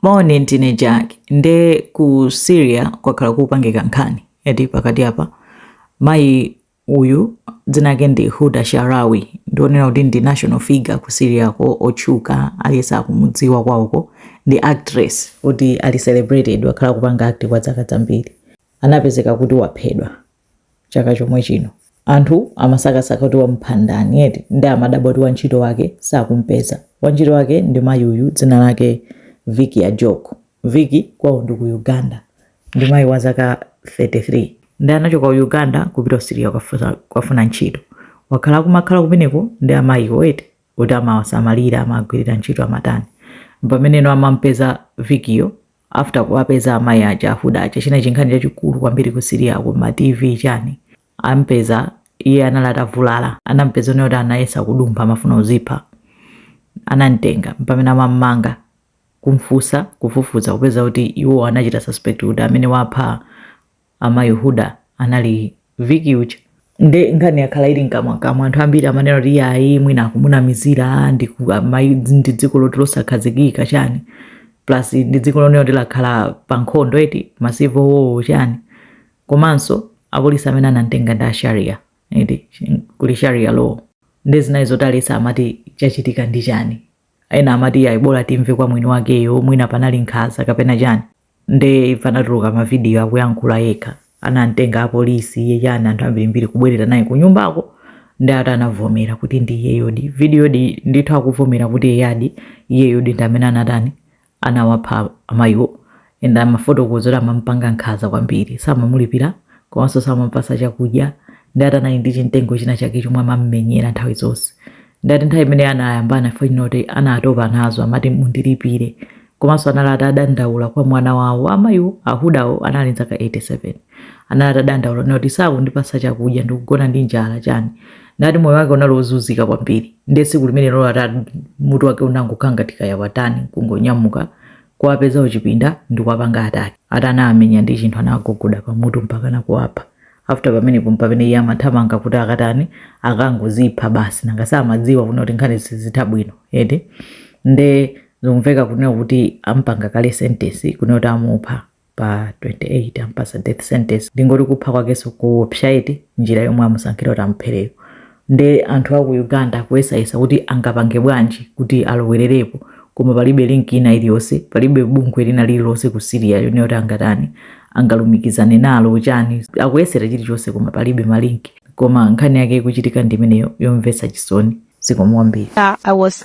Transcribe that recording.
Moni ndine Jack nde ku Syria kwakhala kukupangika nkhani eti pakati apa mayi uyu dzina lake ndi Huda Sharawi ndi onena kuti ndi national figure ku Syriako otchuka aliyense akumudziwa kwawoko ndi actress kuti ali celebrated wakhala kupanga act kwa zaka zambiri anapezeka kuti waphedwa chaka chomwe chino. Anthu amasakasaka kuti wamupha ndani eti nde amadabwa kuti wantchito wake sakumpeza. Wantchito wake ndi mayi uyu dzina lake Vicky Ajoko. Vicky kwawo ndi ku Uganda ndi mayi wa zaka 33 ndi anachoka ku Uganda kupita ku Syria kukafusa- kukafuna ntchito. Wakhala akumakhala kumeneko ndi amayiwo eti kuti amawasamalira amawagwirira ntchito amatani. Mpameneno amampeza Vickyyo after kuwapeza amayi aja a Huda aja china chinkhani chachikulu kwambiri ku Syriako ma tv chani ampeza iye anali atavulala anampeza onena kuti anayesa kudumpha amafuna uzipha anamtenga mpamene amammanga kumfunsa kufufuza kupeza kuti iwo anachita suspect kuti amene wapha amayi Huda anali Vicky uja nde nkhani yakhala ili mkamwakamwa anthu ambiri amanena kuti iyayi mwina akumunamizira ndi ku- amayi ndi dziko loti losakhazikika chani plus ndi dziko lonena kuti lakhala pa nkhondo eti massive war chani komanso apolisi amene anamtenga ndi a Sharia eti kuli sharia law nde zinali zoti aliyense amati chachitika ndi chani ena amati ayi bora timve kwa mwini wakeyo mwina panali nkhaza kapena chani nde after anatuluka mavidiyo akuyankhula yekha anamtenga apolisi iye chani anthu ambirimbiri kubwerera naye kunyumbako ndi ati anavomera kuti ndi iyeyodi vidiyodi ndithu akuvomera kuti eyadi iyeyodi ndi amene anatani anawapha amayiwo and amafotokoza kuti amampanga nkhaza kwambiri samamulipira komanso samampatsa chakudya ndi ati anali ndi chimtengo china chake chomwe amammenyera nthawi zonse nde ati nthawi imene anayambana after kuti anatopa nazo amati mundilipire komanso anali atadandaula kwa mwana wawo amayiwo a Hudawo anali nzaka 87 anali atadandaula nati sakundipatsa chakudya ndikugona ndi njala chani nati moyo wake unali wozunzika kwambiri ndiye tsiku limenelo ati mutu wake unangokangatika yawatani kungonyamuka kuwapeza uchipinda ndikuwapanga attack ati anamenya ndi chinthu anagogoda pamutu mpaka nakuwapha after pamenepo mpamene iye amathamanga kuti akatani akangozipha basi nanga samadziwa kuno kuti nkhani sizitha bwino eti nde zikumveka kunena kuti ampanga kale sentence kunena kuti amupha pa 28 ampatsa death sentence ndingoti kupha kwakenso kuopsa eti njira yomwe amusankhira kuti amuphereyo nde anthu a ku Uganda akuyesayesa kuti angapange bwanji kuti alowererepo koma palibe link ina iliyonse palibe bungwe lina lililonse ku Syria yonena kuti angatani angalumikizane nalo chani akuyesera chilichonse koma palibe ma link koma nkhani yake ikuchitika ndi imeneyo yomvetsa chisoni zikomo kwambiri Uh, I was